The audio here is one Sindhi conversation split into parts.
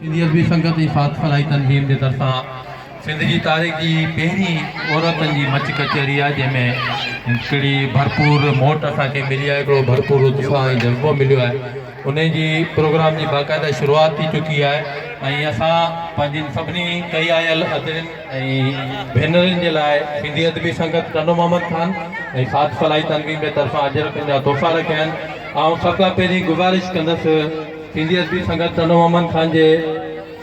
سنڌي ادبي سنگت ۽ ساٿ فلاحي تنظيم جي طرفان سنڌ جي تاريخ جي هي پهرين عورتن جي مچ ڪچهري آهي جنهن ۾ هڪڙي ڀرپور موٽ اسان کي ملي آهي هڪڙو ڀرپور اتساهه ۽ جذبو مليو آهي ان جي پروگرام جي باقاعده شروعات ٿي چڪي آهي ۽ اسان پنهنجين سڀني ڪئي آيل ادڙين ۽ ڀينرين جي لاء سنڌي ادبي سنگت ٽنڊو محمد خان ۽ ساٿ فلاحي تنظيم جي طرفان اجرڪن جا تحفا رکيا آهن آئون سڀ کان پهرين گذارش ڪندس سنڌي ادبي سنگت ٽنڊو محمد خان جي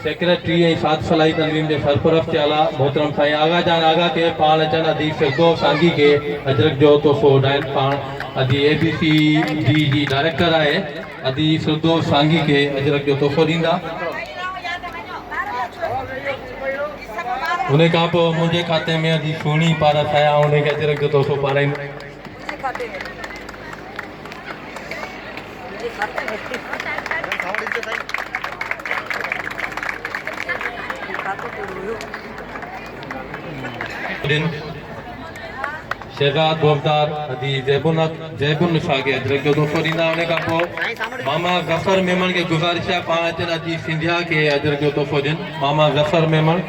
سيڪريٽري ۽ ساٿ صلاحي تنظيم جي سرپرست ٿيل آ محترم سائين آغا جان آغا کي پاڻ اچڻ ادي فردوس سانگي کي اجرڪ جو تحفو اڏائين پاڻ ادي اي بي سي ڊي جي ڊائريڪٽر آهي ادي فردوس سانگي کي اجرڪ جو تحفو ڏيندا انهي کان پوء منهنجي کاتي ۾ ادي سهڻي پارس آيا انهي کي اجرڪ جو تحفو پارائيندو شهزاد بوفتار حاجي زيب زيب النساء کي اجرڪ جو تحفو ڏيندا ان کان پوء ماما ظفر ميمڻ کي گذارش آهي پاڻ اچن اچي سنڌيا کي اجرڪ جو تحفو ڏين ماما ظفر ميمڻ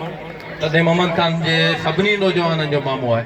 تڏهن محمد خان جي سڀني نوجوانن جو مامو آهي